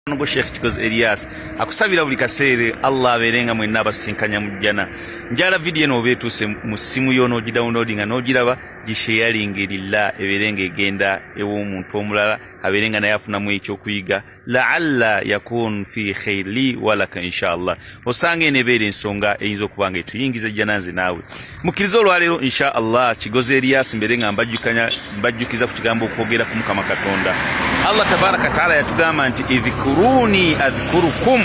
Nugo Sheikh Kikozi Elias akusabira buli kaseere Allah abeere nga mwenna abasisinkanya mu jjana. Njala vidiyo eno oba etuuse mu ssimu yo n'ogidownloadinga n'ogiraba gisheyalinge lillah ebeere nga egenda ew'omuntu omulala abeere nga naye afunamu ekyokuyiga laalla yakun fi khairi li walaka inshallah. osanga eno ebeera ensonga eyinza okuba nga etuyingiza ejjana nze naawe mukkiriza olwaleero insha allah kigozi eriyasi mbeere nga mbajjukiza ku kigambo okwogera ku mukama katonda allah tabaraka taala yatugamba nti idhikuruni adhikurukum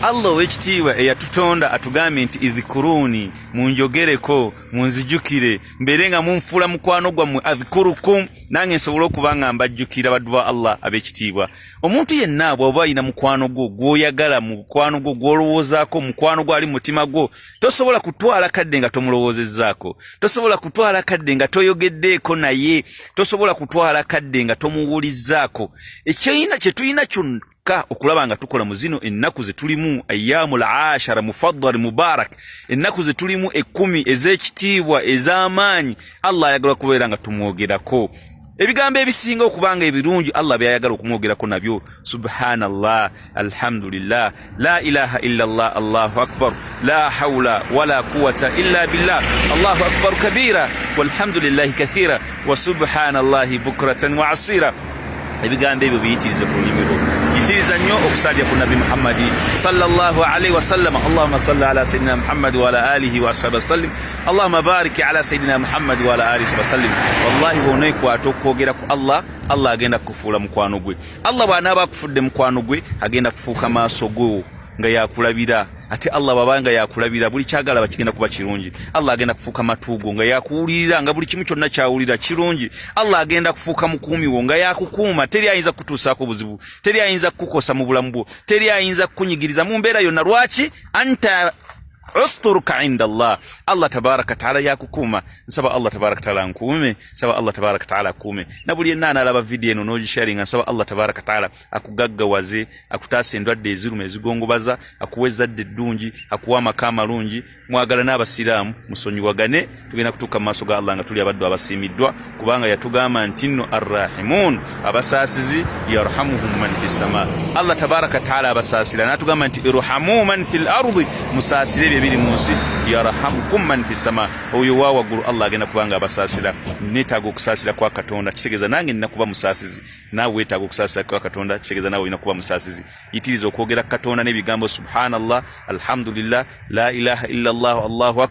allah ow'ekitiibwa eyatutonda atugambye nti idhikuruni munjogereko munzijukire mbeere nga munfuula mukwano gwammwe adhikurukum nange nsobole okuba nga mbajjukira baddu ba allah ab'ekitiibwa omuntu yenna bw'oba alina mukwano gwo gw'oyagala mukwano gwo gw'olowoozaako mukwano gwo ali mu mutima gwo tosobola kutwala kadde nga tomulowoozezzaako tosobola kutwala kadde nga toyogeddeeko naye tosobola kutwala kadde nga tomuwulizzaako ekyina kye tulina kyonna kyokka okulaba nga tukola mu zino ennaku ze tulimu ayaamu l ashara mufaddal mubarak ennaku ze tulimu ekkumi ez'ekitiibwa ez'amaanyi allah ayagala kubeera nga tumwogerako ebigambo ebisinga okubanga ebirungi allah byayagala okumwogerako nabyo subhanallah alhamdulillah la ilaha illa llah allahu akbar la haula wala quwata illa billah allahu akbar kabira walhamdulillahi kathira wa subhanallahi bukratan wa asira ebigambo ebyo biyitirize ku lulimi lwo yitiriza nnyo okusalya ku nabbi muhammadi salllah alaihi wasallama allahuma salli ala sayidina muhammadi waala alihi waashabi wasallim Allahumma barik ala sayidina Muhammad wa ala alihi wasallim. Wallahi bw'oneekwata okwogera ku Allah, Allah agenda kukufuula mukwano gwe. Allah bw'anaaba akufudde mukwano gwe, agenda kufuuka maaso go nga yakulabira ate allah baba nga yakulabira buli kyagala bakigenda kuba kirungi allah agenda kufuuka matuugo nga yakuwulirira nga buli kimu kyonna kyawulira kirungi allah agenda kufuuka mukuumiwo nga yakukuuma teri ayinza kukutuusaako buzibu teri ayinza kukukosa mu bulamu bwo teri ayinza kukunyigiriza mu mbeera yonna lwaki anta usturuka inda Allah Allah tabaraka taala yakukuuma nsaba Allah tabaraka taala nkuume nsaba Allah tabaraka taala akuume na buli yenna anaalaba vidiyo eno n'ogisharinga nsaba Allah tabaraka taala akugaggawaze akutaasa endwadde eziruma ezigongobaza akuwa ezzadde eddungi akuwa amaka amalungi mwagala n'abasiraamu musonyiwagane tugenda kutuuka mu maaso ga allah nga tuli abaddu abasiimiddwa kubanga yatugamba nti nno arrahimun abasaasizi yarhamuhum man fi ssama allah tabaraka taala abasaasira natugamba nti irhamu man fi lardi musaasire ebyo ebiri mu nsi yarhamukum man fi ssama oyo wa waggulu allah agenda kubanga abasaasira netaaga okusaasira kwa katonda kitegeeza nange nina kuba musaasizi naawe wetaaga okusaasira kwa katonda kitegeeza naawe olina kuba musaasizi yitiriza okwogera katonda n'ebigambo subhanallah alhamdulillah la ilaha illa llah allahu akbar